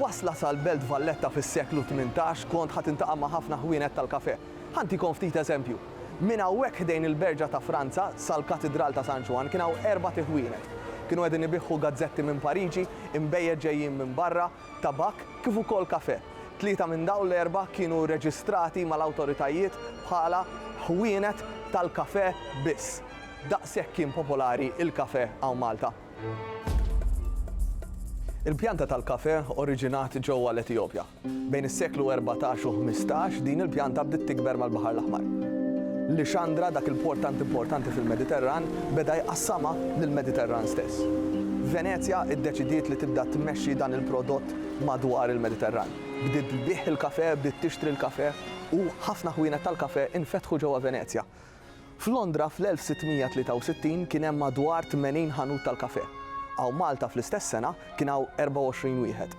Wasla sal-Belt Valletta fis-seklu 18 kont ħa tintaqa' ma' ħafna ħwienet tal-kafè. Ħa ntikom ftit eżempju. Minn hawnhekk ħdejn il-Berġa ta' Franza sal-Katidral ta' San Ġwann kien hawn erbat iħwienet. Kienu qegħdin ibiħħu gazzetti minn Pariġi, inbejjed ġejjin minn barra, tabakk kif ukoll kafè. Tlieta minn dawn l-erbgħa kienu reġistrati mal-awtoritajiet bħala ħwienet tal-kafè biss. Daqshekk kien popolari l-kafè hawn Malta. Il-pjanta tal-kafè oriġinat ġewwa l-Etjopja. Bejn is-seklu erbatax u ħmistax din il-pjanta bdiet tikber mal-Baħar l-Aħmar. Lixandra, dak il-port tant importanti fil-Mediterran, beda jqassamha lill-Mediterran stess. Venezja iddeċidiet li tibda tmexxi dan il-prodott madwar il-Mediterran. Bdiet tbigħ il-kafè, bdiet tixtri l-kafè, u ħafna ħwienet tal-kafè infetħu ġewwa Venezja. F'Londra fl-1663 kien hemm madwar 80 ħanut tal-kafè. Hawn Malta fl-istess sena kien hawn 24 wieħed.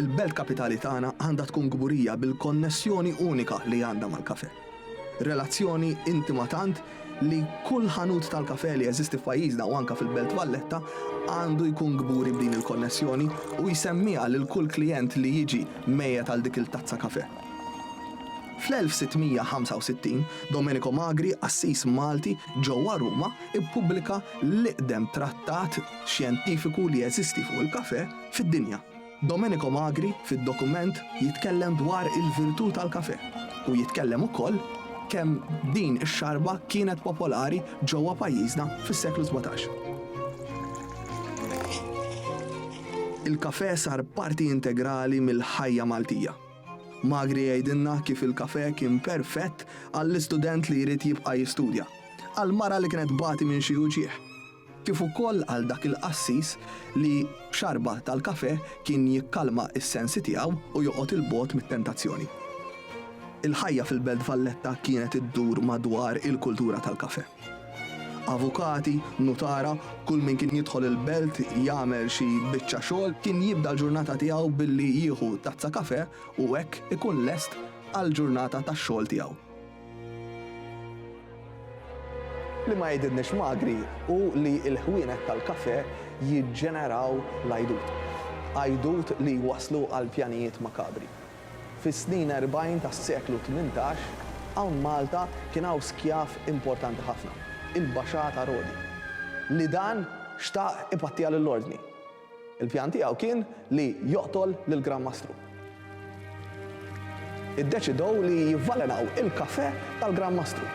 Il-belt kapitali tagħna għandha tkun kburija bil-konnessjoni unika li għandha mal-kafè. Relazzjoni intima tant li kull ħanut tal-kafè li jeżisti f'pajjiżna u anka fil-Belt Valletta għandu jkun kburi b'din il-konnessjoni u jsemmiha lil kull klijent li jiġi mejjet għal dik il-tazza kafè. Fl-1665, Domenico Magri, qassis Malti ġewwa Ruma, ippubblika l-iqdem trattat xjentifiku li jeżisti fuq il-kafè fid-dinja. Domenico Magri fid-dokument jitkellem dwar il-virtù tal-kafè u jitkellem ukoll kemm din ix-xarba kienet popolari ġewwa pajjiżna fis-seklu sbatax. Il-kafè sar parti integrali mill-ħajja Maltija. Magri jgħidilna kif il-kafè kien perfett għall-istudent li jrid jibqa' jistudja, għall-mara li kienet tbati minn xi uġigħ, kif ukoll għal dak il-qassis li b'xarba tal-kafè kien jikkalma s-sensi tiegħu u joqgħod 'il bogħod mit-tentazzjoni. Il-ħajja fil-Belt Valletta kienet iddur madwar il-kultura tal-kafè. Avukati, nutara, kull min kien jidħol il-belt jagħmel xi biċċa xogħol kien jibda l-ġurnata tiegħu billi jieħu tazza kafè u hekk ikun lest għall-ġurnata tax-xogħol tiegħu. Li ma jgħidilniex magri hu li l-ħwienet tal-kafè jiġġeneraw l-għajdut. Għajdut li jwasslu għal pjanijiet makabri. Fis-snin erbgħin tas-seklu tmintax, hawn Malta kien hawn skjav importanti ħafna, il-Baxà ta' Rodi, li dan xtaq ipattija lill-Ordni. Il-pjan tiegħu kien li joqtol lill-Gran Mastru. Iddeċidew li jivvalenaw il-kafè tal-Gran Mastru.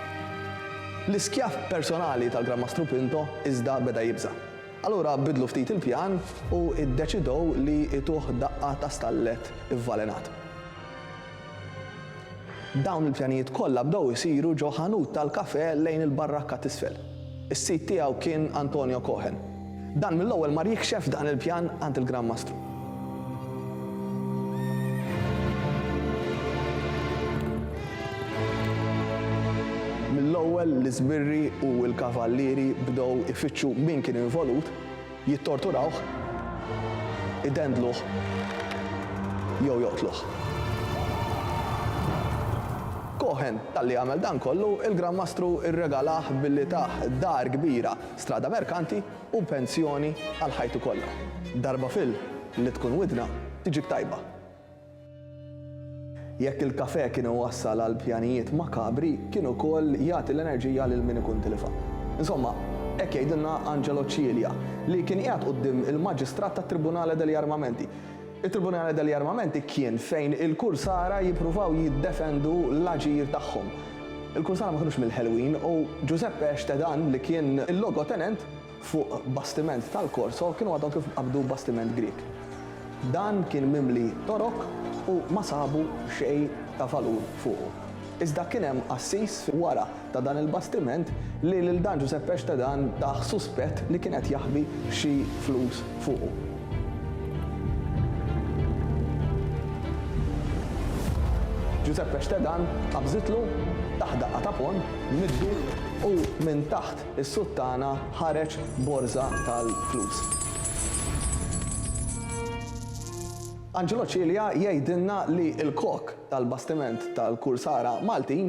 L-iskjav personali tal-Gran Mastru Pinto iżda beda jibża'. Allura biddlu ftit il-pjan u iddeċidew li ituh daqqa ta' stallet ivvalenat. Dawn il-pjanijiet kollha bdew isiru ġo ħanut tal-kafè lejn il-barrakka t'isfel. Is-sid tiegħu kien Antonio Cohen. Dan mill-ewwel mar jikxef dan il-pjan għand il-Gran Mastru. Mill-ewwel l-iżbirri u l-kavallieri bdew ifittxu min kien involut, jittorturawh, idendluh jew joqtluh. Cohen, talli għamel dan kollu, il-Gran Mastru rregalah billi tah dar kbira, Strada Mercanti, u pensjoni għal ħajtu kollha. Darba fil, li tkun widna tiġik tajba. Jekk il-kafè kien iwassal għal pjanijiet makabri, kien ukoll jagħti l-enerġija lil min ikun tilifha. Insomma, hekk jgħidilna Angelo Cilia, li kien qiegħed quddiem il-Maġistrat tat-Tribunale degli Armamenti. It-Tribunale degli Armamenti kien fejn il-kursara jippruvaw jiddefendu l-aġir tagħhom. Il-kursara ma kinux mill-ħelwin u Giuseppe Estedan li kien il-logotenent fuq bastiment tal-Corso kienu għadhom kif qabdu bastiment Grieg. Dan kien mimli torok u ma sabu xejn ta' valur fuqu. Iżda kien hemm qassis wara ta' dan il-bastiment li lil dan Ġuseppe Xtedan tah suspett li kien qed jaħbi xi flus fuqu. Ġuseppe Xtedan qabżitlu tah daqqa ta' ponn middu u minn taħt is-suttana ħareġ borża tal-flus. Angelo Cilia jgħidilna li l-kok tal-bastiment tal-Kursara Maltin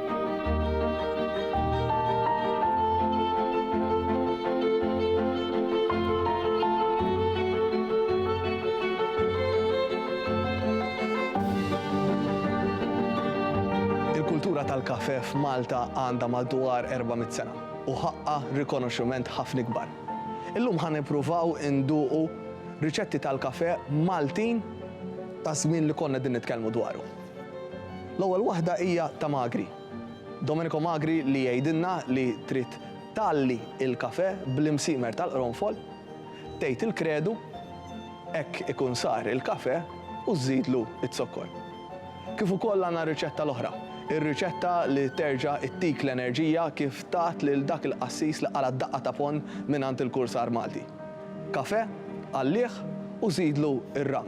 Il-kultura tal-kafè f'Malta għandha madwar 400 sena u ħaqqha rikonoxximent ħafna ikbar. Illum ħa nippruvaw induqu riċetti tal-kafè Maltin taż-żmien li konna qegħdin nitkellmu dwaru. L-ewwel waħda hija ta' Magri. Domenico Magri li jgħidilna li trid tgħalli l-kafè bl-imsiemer tal-qronfol, tgħid il-kredu, hekk ikun sar il-kafè u żżidlu z-zokkor. Kif ukoll għandna r-riċetta l-oħra, ir-riċetta li terġa' ttik l-enerġija kif tat lil dak il-qassis li qala' daqqa ta' ponn mingħand il-kursar Malti. Kafè, għallih u żidlu r-ram.